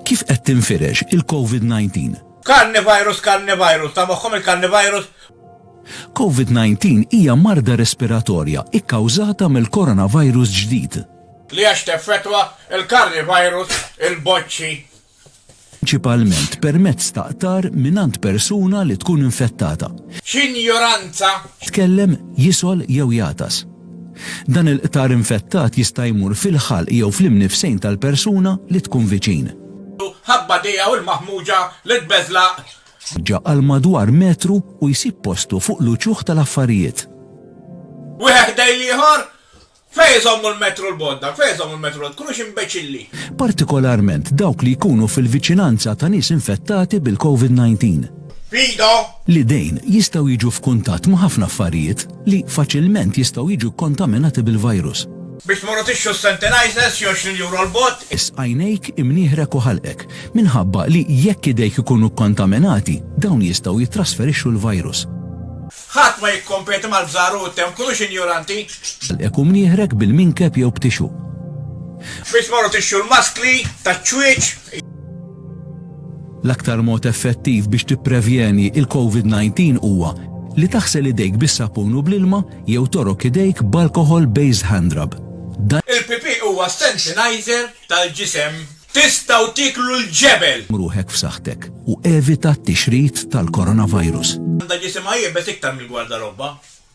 Kif qed tinfirex il-Covid-19? Carnivirus Carnivirus, ta' moħħhom il-Carnivirus? Covid-19 hija marda respiratorja kkawżata mill-coronavirus ġdid. Li għax teffettwa l-Carnivirus il-boċċi. Prinċipalment permezz ta' qtar mingħand persuna li tkun infettata. X'injoranza! Jitkellem, jisgħol jew jagħtas. Dan il-qtar infettat jista' jmur fil-ħalq jew fl-imnifsejn tal-persuna li tkun viċin. Ħabbat tiegħu l-maħmuġa li tbeżlaq. Ġa għal madwar metru u jsib postu fuq l-uċuħ tal-affarijiet. Wieħed ħdej l-ieħor? Fejn iżommu l-metru l-bodda? Fejn iżommu l-metru? Tkunux imbeċilli! Partikolarment dawk li jkunu fil-viċinanza ta' nies infettati bil-COVID-19. f'idha. L-idejn jistgħu jiġu f'kuntatt ma' ħafna affarijiet li faċilment jistgħu jiġu kkontaminati bil-virus. Biex tmorru tixtru s-Senntenizers xi għoxrin euro 'l bott. Is għajnejk, imnieħrek u ħalqek, minħabba li jekk idejk ikunu kkontaminati, dawn jistgħu jittrasferixxu l-virus. Ħadd ma jikkompeti mal-bżar u t-temp, kunux injoranti. Għalhekk hu mnieħrek bil-minkeb jew b'tixu. Biex tmorru tixxu l-maskli taċ-ċwieċ. L-aktar mod effettiv biex tipprevjeni il-Covid 19 huwa li taħsel idejk bis-sapun u bl-ilma jew torok idejk b'alcohol based handrub. Dan. Il-pipì huwa sanitizer tal-ġisem. Tistgħu tieklu l-ġebel! Ruħek f'saħħtek u evita t-tixrid tal-coronavirus. Għandha ġisimha iebes iktar mill-gwardarobba.